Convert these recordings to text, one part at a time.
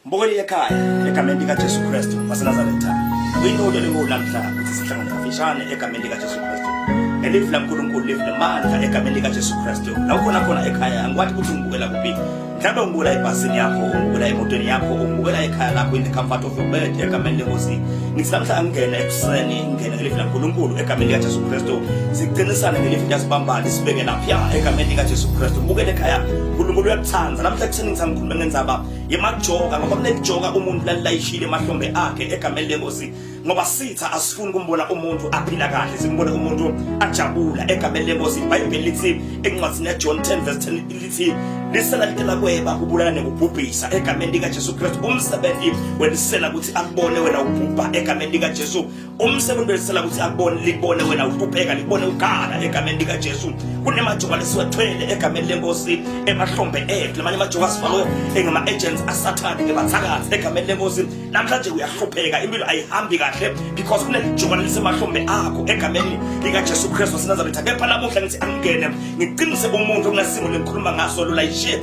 Mbukeli ekhaya egameni likaJesu Kristu waseNazaretha kuyinto elingulamhla ukuthi sihlangane kafishane egameni likaJesu Kristu nelifu laNkulunkulu lifu lemandla egameni likaJesu Kristu la ukhona khona ekhaya angikwati ukuthi ungibukela kuphi mhlawumbe ungibukela ebhasini yakho ungibukela emotweni yakho ungibukela ekhaya lakho in the comfort of your bed egameni lenkosi ngithi namhla angingena ekuseni ngingena ngelifu laNkulunkulu egameni likaJesu Kristu siqinisane ngelifu liyasibambana sibeke lapha egameni likaJesu Kristu bukele ekhaya uNkulunkulu uyakuthanda namhla ekuseni ngithi bengenza yemajoka ngoba kunelijoka umuntu lalilayishile emahlombe akhe egameni lenkosi ngoba sitha asifuni kumbona umuntu aphila kahle simbone umuntu ajabula egameni lenkosi ibhayibheli lithi encwadini yajohn 10 verse 10 lithi lisela litela kweba kubulala nekubhubhisa egameni likajesu kristu umsebenzi welisela ukuthi akubone wena ubhubha egameni likajesu umsebenzi wesela ukuthi akubone likubone wena uhlupheka likubone ukhala egameni likajesu kunemajoka lesiwathwele egameni lenkosi emahlombe ethu lamanye amajoka asifakwe engama-agents asathane ngebathakathi egameni lenkosi namhlanje uyahlupheka impilo ayihambi kahle because kunelijoka lisemahlombe akho egameni likajesu kristu wasenazaretha kepha namuhla ngithi angingene ngiqinise umuntu okunasimo lengikhuluma ngaso lulayishe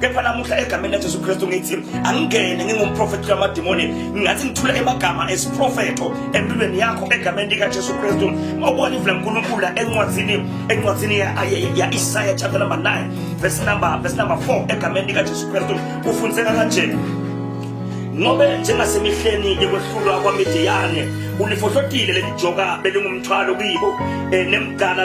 kepha namuhla egameni laJesu Kristu ngithi angingene ngingumprofethi kamadimoni ngathi ngithula emagama esiprofetho empilweni yakho egameni likaJesu Kristu obona ivula uNkulunkulu encwadzini encwadzini ya-Isaya chapter number 9 verse number verse number 4 egameni likaJesu Kristu kufundiseka kanje ngobe njengasemihleni yokwehlulwa kwamidiyane ulifohlotile lelijoka belingumthwalo kibo um nemgana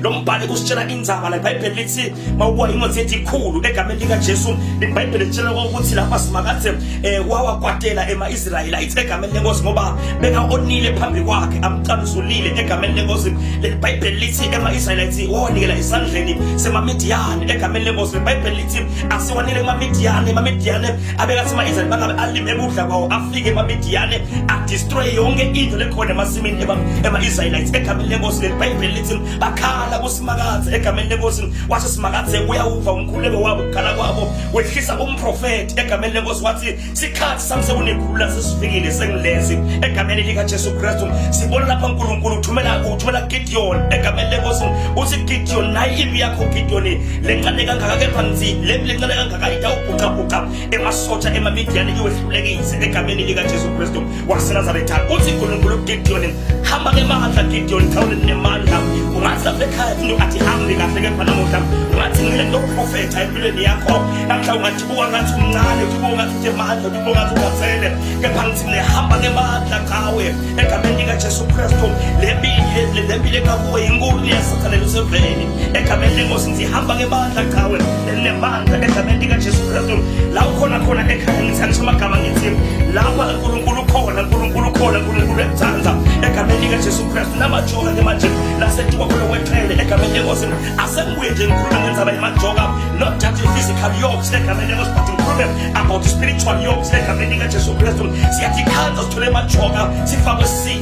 lo mbhalo kusitshela indzaba la ibhayibheli lithi mawukuwa ingozi ethi ikhulu egameni likajesu ibhayibheli litshela ukuthi lapha simakade um eh, wawakwatela ema-israyelites egameni lenkosi ngoba beka-onile phambi kwakhe amcamzulile egameni lenkosi leli bhayibheli lithi ema-israyelites wawanikela esandleni semamidiyane egameni lenkosi leli bhayibheli lithi asiwanele emamidiyane emamidiyane abekathi ama-israyeli bangabe alime ebudla kwawo afike emamidiyane adistroye yonke into lekhona emasimini ema-israyelites egameni lenkosi leli bhayibheli eNkosi bakhala kuSimakadze egameni leNkosi washo Simakadze uyawuva umkhuleko wabo ukukhala kwabo wehlisa umprofeti egameni leNkosi wathi sikhathi sami sekunekhulula sesifikile sengilezi egameni likaJesu Kristu sibona lapha uNkulunkulu uthumela uthumela Gideon egameni leNkosi uthi Gideon nayi impi yakho Gideon lencane kangaka kepha ngithi le lencane kangaka itawubhuqabhuqa emasosha emaMidiyani iwehlulekise egameni likaJesu Kristu wasenazaretha uthi nkulunkulu ugidiyoni hamba ke mandla gidiyoni thawule ndinemandla ungathi lapha ekhaya funa ungathi hambi kahle kepha namuhla ungathi ngile ndokuprofetha empilweni yakho namhla ungathi buka ngathi umncane uthi buka ngathi utemandla uthi buka ngathi ungazele kepha ngithi nehamba ngemandla qawe egameni likajesu kristu le mpilo ekakuwe inkulu liyasathana luseveni egameni lenkosi ngihamba ngebandla qhawe elinebandla egameni likajesu kristu la ukhona khona ekhaya ngithanisa amagama ngithi lapha unkulunkulu ukhona unkulunkulu ukhona unkulunkulu ekuthanda egameni likajesu kristu namajoka ke manje nasetuka khona kweqhele egameni lenkosi asengibuye nje ngikhuluma ngenzaba yemajoka not just physical yokes egameni lenkosi but ngikhulume about spiritual yokes egameni likajesu kristu siyathikhanda sithole emajoka sifakwe si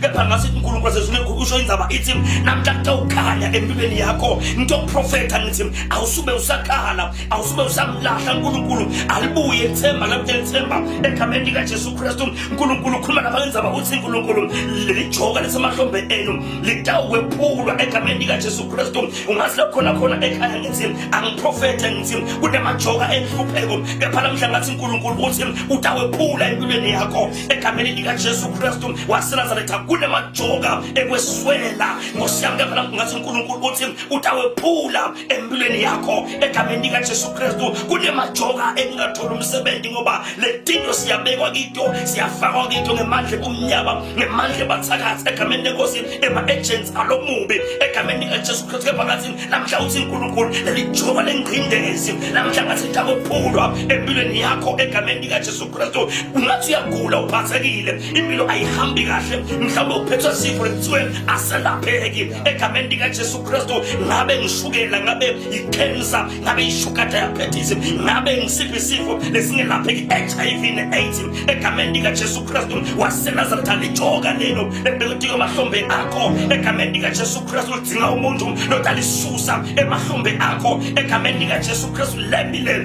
kepha ngasithi unkulunkulu sezulekhu usho indzaba ithi namhla kutewukhanya empilweni yakho ngitoprofetha ngithi awusube usakhala awusube usamlahla unkulunkulu alibuye ithemba lakutela ithemba egameni likajesu kristu unkulunkulu ukhuluma lapha ngenzaba uthi unkulunkulu leli joka lesemahlombe enu litawukwephulwa egameni likajesu kristu ungazi lakhona khona ekhaya ngithi angiprofethe ngithi kunemajoka enhlupheko kepha namhla ngathi unkulunkulu uthi utawephula empilweni yakho egameni likaJesu Kristu waseNazaretha kunemajoka ekweswela Nkosi yami kepha ngathi uNkulunkulu uthi utawephula empilweni yakho egameni likaJesu Kristu kunemajoka engingathola umsebenzi ngoba letinto siyabekwa kito siyafakwa kito ngemandla kumnyama ngemandla bathakathi egameni lenkosi ema agents alomubi egameni likaJesu Kristu kepha ngathi namhla uthi uNkulunkulu lelijoka lengqindezi namhla ngathi utawephulwa empilweni yakho egameni likaJesu Kristu ungathi uyagula uphathekile impilo ayihambi kahle mhlawumbe uphethwe sifo lekuthiwe aselapheki egameni likajesu kristu ngabe ngishukela ngabe ikhensa ngabe ishuga diabetes ngabe ngisiphi isifo lesingelapheki hiv ne-aids egameni likajesu kristu wasenazareta lijoka lelo ebelitiko emahlombe akho egameni likajesu kristu lidzinga umuntu lotalisusa emahlombe akho egameni likajesu kristu lembi lelo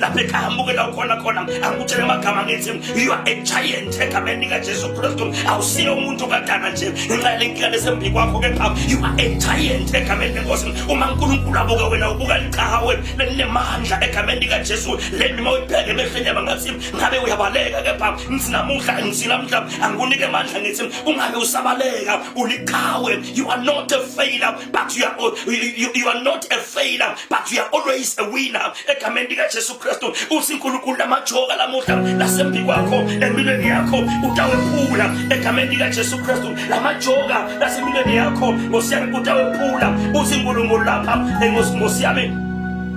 lapho ekhaya amukela ukhona khona angikutshele amagama ngithi you are a giant egameni likajesu kristu awusiye umuntu kadana nje ngenxa yale nkinga lesembi kwakho kepha you are a giant egameni lenkosi uma unkulunkulu abuka wena ubuka liqhawe lelinemandla egameni likajesu le ndima uyibheke emehlweni yaba ngathi ngabe uyabaleka kepha ngithi namuhla ngithi namhla angikunike amandla ngithi ungabe usabaleka uliqhawe you are not a failure but you are, you, you are not a failure but you are always a winner egameni likajesu kristu uthi nkulunkulu lamajoka lamuhla lasembi kwakho empilweni yakho utawephula egameni likajesu kristu lamajoka lasempilweni yakho ngosiyami utawephula uthi nkulunkulu lapha ngosiyami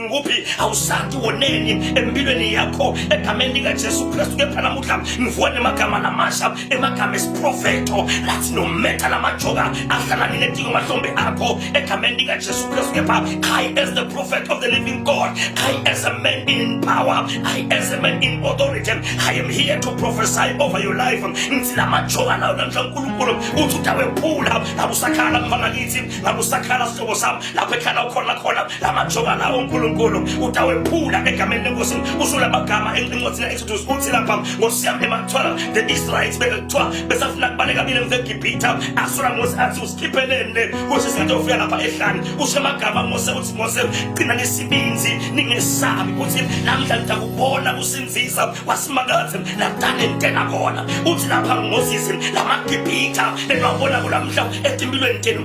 ngikuphi awusati woneni empilweni yakho egameni likajesu kristu kepha namuhla ngivuka nemagama lamasha emagama esiprofetho lathi nometha lamajoka ahlalani netiko mahlombe akho egameni likajesu kristu kepha i as the prophet of the living god i as a man in power i as a man in authority i am here to prophesy over your life ngithi lamajoka lawo namhla unkulunkulu uthi udawephula ngakusakhala mfana kithi ngakusakhala sihlobo sami lapho ekhala ukhona khona la majoka lawo uNkulunkulu utawephula egameni lenkosi usula amagama encwadi le-exodus uthi lapha nkosi yami emathwala the israelites bekuthiwa besafuna kubaleka mina ngizegibhitha asula mose athi usikhipheleni le kusho isinto ofika lapha ehlane usho amagama mose uthi mose qina nesibinzi ningesabi ukuthi namhla nitakubona kusinzisa wasimakazi nakudala entena khona uthi lapha ngozisi lamagibhitha benwabona kulamhla etimpilweni tenu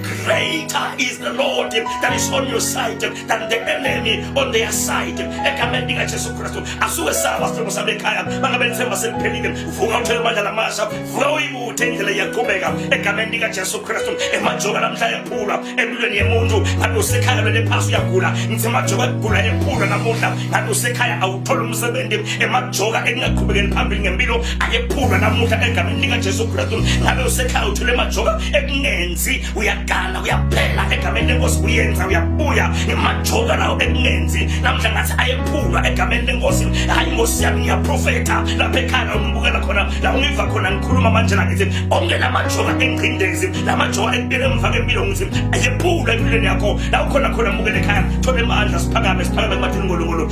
Greater is the Lord that is on your side than the enemy on their side. Egameni lika Jesu Kristu asuke sawa sithembu sami ekhaya mangabe lithemba seliphelile vuka uthele amandla lamasha vuka uyibuthe indlela iyaqhubeka egameni lika Jesu Kristu emajoka namhla ephulwa empilweni yemuntu ngabe usekhaya lwele phasi uyagula ngithe majoka kugula ephulwa namuhla ngabe usekhaya awu thola umsebenzi emajoka ekungaqhubekeli phambili ngempilo ayephulwa namuhla egameni likajesu kristu ngabe usekhaya uthule emajoka ekungenzi uyagana uyaphela egameni lenkosi uyenza uyabuya ngemajoka lawo ekungenzi namhla ngathi ayephulwa egameni lenkosi hayi nkosi yami ngiyaprofetha lapha ekhaya ungibukela khona la ungiva khona ngikhuluma manje la ngithi onke la majoka engcindezi la majoka ekubele emva kempilo ngithi ayephulwa empilweni yakho la ukhona khona mukele ekhaya thola emandla siphakame siphakame kumathini ngolongolo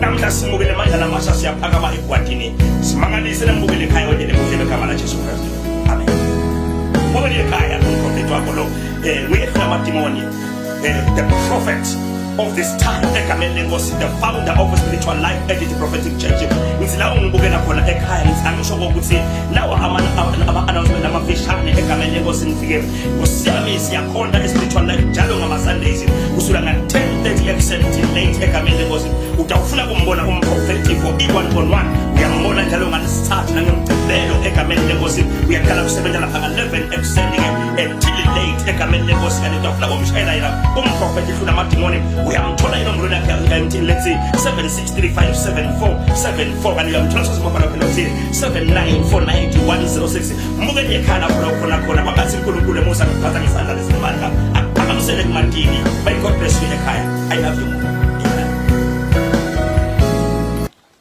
namhla simukele amandla lamasha siyaphakama egwadini simangalise namukele ekhaya onye nemukele egama lajesu kristu amen mukele ekhaya umprofethi wakho lo um uyehlula amadimoni um the prophet of this time egameni lenkosi the founder of a spiritual life edit prophetic church ngithi la ungibukela khona ekhaya ngithi angisho kokuthi lawa ama-announcement amafishane egameni lenkosi ngifike kusiyami siyakhonda espiritual life njalo ngama Sundays kusula nga 10:30 ekuseni till late egameni lenkosi utawufuna kumbona umprofeti for i1 on 1 uyambona njalo ngalesithathu nangemgcibelo egameni lenkosi uyaqala kusebenza lapha nga 11 ekuseni ke until late egameni lenkosi kanti utawufuna kumshayela yena umprofeti hlula amadimoni uyamthola yena umlweni yakhe until let's say 763574 74 kanti uyamthola sozimabhala phela uthile 79491066 Muke nje khala khona khona khona babathi uNkulunkulu emusa ngiphatha ngesandla lesimandla. Akamsele kumantini. May God bless you ekhaya. I love you.